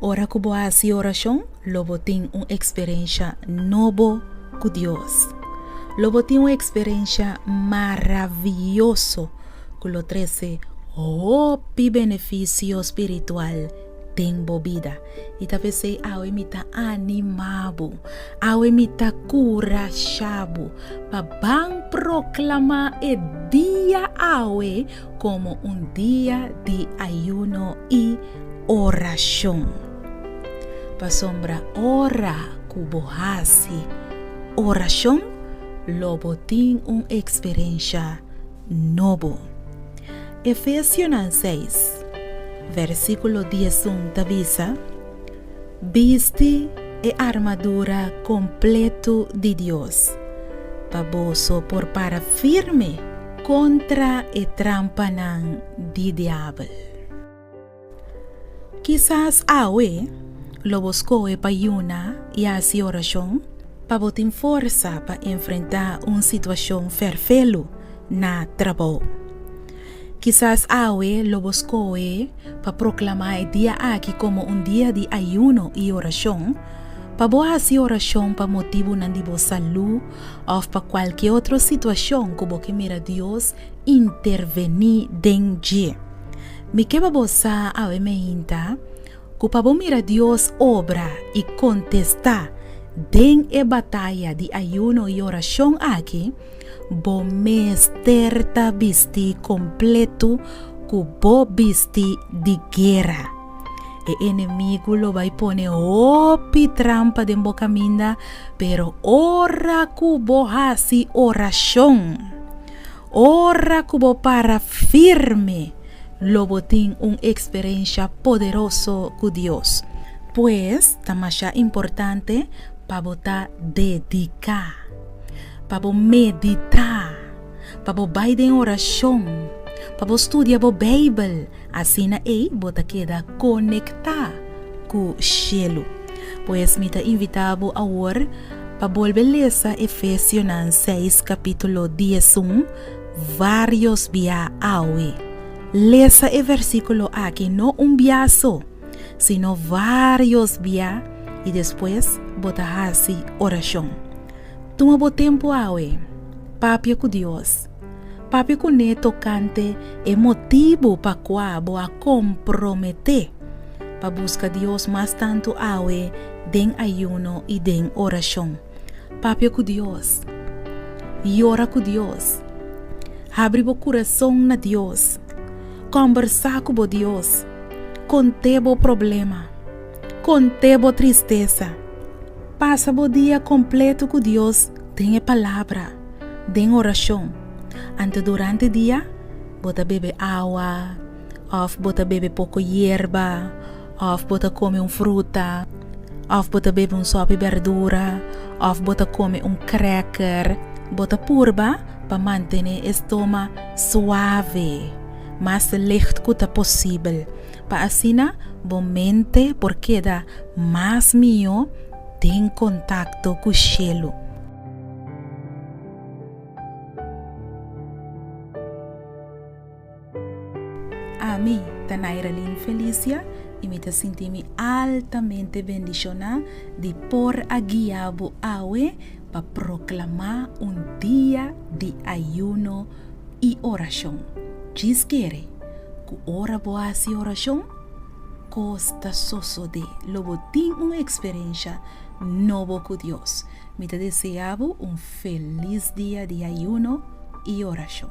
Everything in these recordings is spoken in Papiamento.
Ora ku bo hasi orashon, lo bo tin un eksperensha nobo ku Dios. Lo bo tin un eksperensha maravioso ku lo trese hopi benefisio spiritual den bo bida. I ta p'esei awe mi ta animá bo, awe mi ta kurashá bo pa ban proklamá e dia awe komo un dia di ayuno i orashon. Pasobra ora ku bo hasi orashon, lo bo tin un eksperensha nobo. Efesionan seis, vèrsikulo diesun ta bisa, Bisti e armadura kompletu di Dios, pa boso por para firme kontra e trampanan di diabel. Kisas awe lo bo skohe pa yuna i hasi orashon pa bo tin forsa pa enfrentá un situashon ferfelu na trabou. Kisas awe lo bo skohe pa proklamá e dia aki komo un dia di ayuno i orashon, pa bo hasi orashon pa motibunan di bo salú òf pa kualke otro situashon ku bo ke mira Dios intervení den dje. Mi ke pa bo sa awe meinta ku pa bo mira Dios obra i kontestá den e bataya di ayuno i orashon aki, Bo mester ta bisti kompletu ku bo bisti di guera. E enemigu lo bai pone hopi trampa den bo kaminda, pero ora ku bo hasi orashon, ora ku bo para firme, lo bo tin un eksperensha poderoso ku Dios. Pues, ta masha importante pa bo ta dediká. Pa bo meditá, pa bo bai den orashon, pa bo studia bo Beibel, asina ei bo ta keda konektá ku shelu. Pues mi ta invitá bo awor pa bolbe lesa Efesionan seis kapítulo diesun vários bia awe. Lesa e versíkulo aki no un bia so. sino varios bia i despues bo ta hasi orashon. Tuma bo tempu awe. Papia ku Dios. Papia kuné tokante e motibu pa kua bo a komprometé pa buska Dios mas tantu awe den ayuno i den orashon. Papia ku Dios. Yora ku Dios. Habri bo kurason na Dios. Kòmbersá ku bo Dios. Kont'é bo problema. Kont'é bo tristesa. Pasa bo dia kompletu ku Dios den e Palabra, den orashon. Anto durante dia bo ta bebe awa. òf bo ta bebe poko yerba, òf bo ta kome un fruta, òf bo ta bebe un sòpi bèrdura, òf bo ta kome un krèker, bo ta purba pa mantené e stoma suave, mas licht ku ta posibel, pa asina bo mente por keda mas mihó den kontakto ku shelu. Ami ta Nairalyn Felicia y mi ta sinti mi altamente bendiciona di por a guia bo awe pa proclama un dia di ayuno y oracion. Djis kere cu ora bo haci oracion, cos ta sosode lo bo tin un experiencia nobo cu Dios. Mi ta desea bo un feliz dia di ayuno y oracion.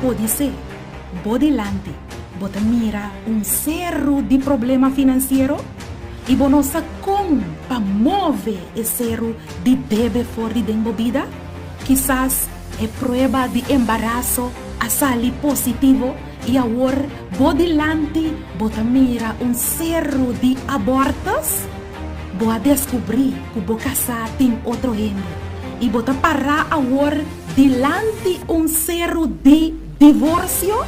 Podisé bo dilanti bo ta mira un seru di problema finansiero i bo no sa kon pa move e seru di bebe for di den bo bida. Kisas e prueba di embaraso a sali positivo i awor bo dilanti bo ta mira un seru di abòrtus. Bo a deskubrí ku bo kasá tin otro hende i bo ta pará awor dilanti un seru di divorsio?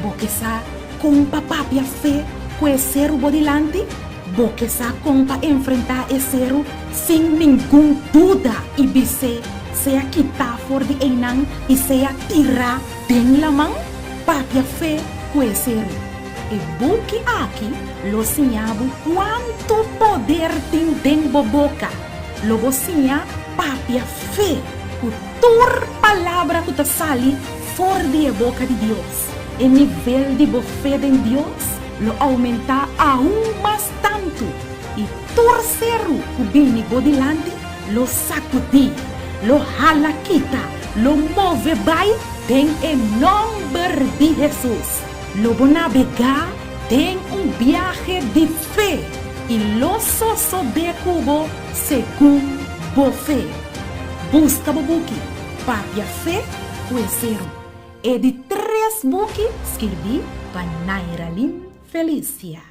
Bo ke sa kon pa papia fe ku e seru bo dilanti? Bo ke sa kon pa enfrentá e seru sin ningun duda i bis'é sea kitá for di einan i sea tirá den laman? Papia fe ku e seru. E buki aki lo siña bo kuantu poder tin den bo boka. Lo bo siña papia fe ku tur palabra ku ta sali for di e boka di Dios. E nivel di bo fe den Dios lo oumentá aun mas tantu, i tur seru ku bini bo dilanti lo sakudí, lo hala kita, lo move bai den e nòmber di Hesus. Lo bo nabegá den un biahe di fe i lo sosobé ku bo segun bo fe. Buska bo buki Papia Fe ku e seru. E di tres buki skirbí pa Nairalin Felicia.